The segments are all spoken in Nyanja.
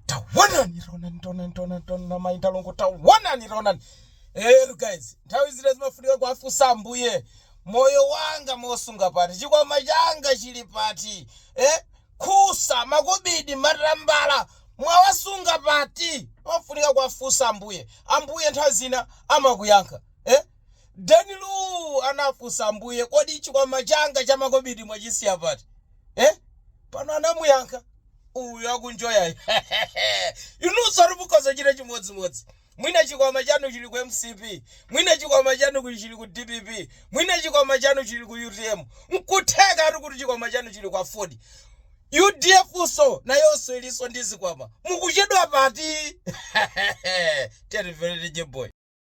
tawonani ronani ronani ronani ronani amayi ndalongo tawonani ronani eyetu guys nthawi zina zimafunika kuwafunsa ambuye moyo wanga mwausunga pati chikwama changa chili pati eh? thusa makobidi matambala mwawasunga pati amafunika kuwafunsa ambuye ambuye nthawi zina amakuyankha eh? danilu anafunsa ambuye kodi chikwama changa chamakobidi mwachisiya pati eh? pano anamuyankha uyu akunjoyayu inunso mukhoza kuchita chimodzimodzi mwina chikwama chanu chili ku mcp mwina chikwama chanu kuli chili ku dpp mwina chikwama chanu chili ku utm nkutheka ati kuti chikwama chanu chili kwa ford udf so nayonso ilinso ndi zikwama mukuchedwa pati tiyativelete jeboy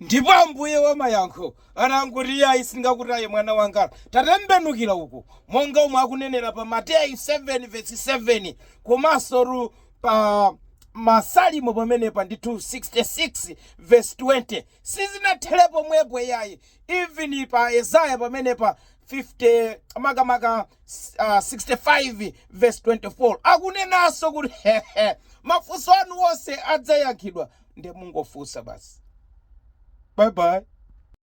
ndipo ambuye wa mayankho anangoti iyayi singakutaye mwana wanga tatembenukira uku monga omwe akunenera pa mateyu 7 vesi 7 komanso ru pa masalimo pamenepa ndi 66 vesi 20 sizinathele pomwepo iyayi even pa yesaya pamenepa 50 makamaka 65 vesi 24 akunenaso kuti mafunso anu onse adzayankhidwa nde mungofusa basi bye bye.